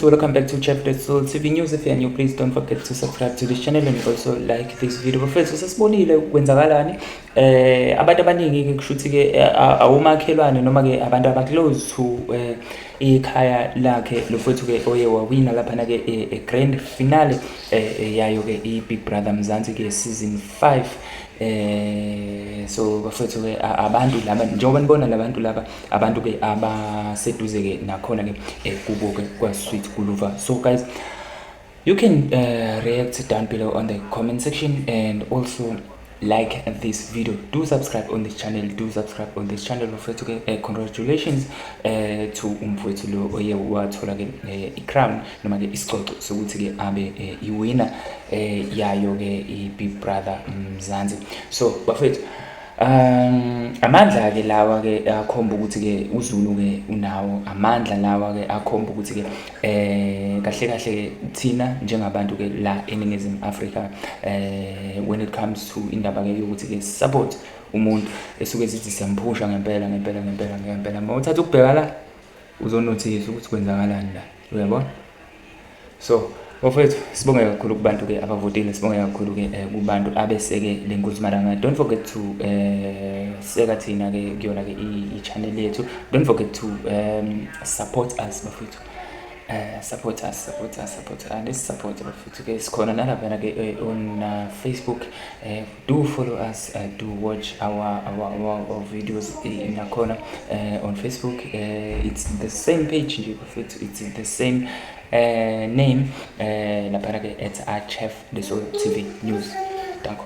welcome back to chapter soul tv news if you're new please don't forget to subscribe to this channel and also like this video bafethu sesibonile kwenzakalani eh abantu abaningi ke kushuthi ke eh, awumakhelwane noma ke abantu abaclose to eh, ikhaya lakhe lofethu ke oye wawina lapha na ke e eh, eh, grand finale eh, eh yayo ke i Big Brother Mzansi ke season 5 eh so bafethu ke abantu laba njengoba nibona labantu laba abantu ke abaseduze ke nakhona ke eh, kubo ke kwa sweet kuluva so guys you can uh, react down below on the comment section and also like this video do subscribe on this channel do subscribe on this channel mfowethu ke uh, congratulations uh, to umfowethu lo oye wathola ke uh, i-crown noma ke isicoco sokuthi ke abe uh, iwina uh, yayo ke i-big brother mzansi so bafethu Um amandla ke lawa ke akhomba ukuthi ke uZulu ke unawo amandla lawa ke akhomba ukuthi ke eh kahle kahle thina njengabantu ke la eningizimu Africa eh when it comes to indaba ke yokuthi ke support umuntu esuke sithi siyamphusha ngempela ngempela ngempela ngempela uma uthatha ukubheka la uzonothisa ukuthi kwenzakalani la uyabona so Bafowethu sibonge kakhulu kubantu ke abavotile sibonge kakhulu ke eh, kubantu abeseke le nkunzi malanga don't forget to eh seka thina ke kuyona ke i channel yethu don't forget to um support us bafethu uh, support us support us support us and support bafethu ke sikhona nalaphana ke eh, on uh, facebook uh, do follow us uh, do watch our our, our, our videos nakhona uh, on facebook uh, it's the same page nje bafethu it's the same uh, name uh, laphana ke at archef the soul tv news danko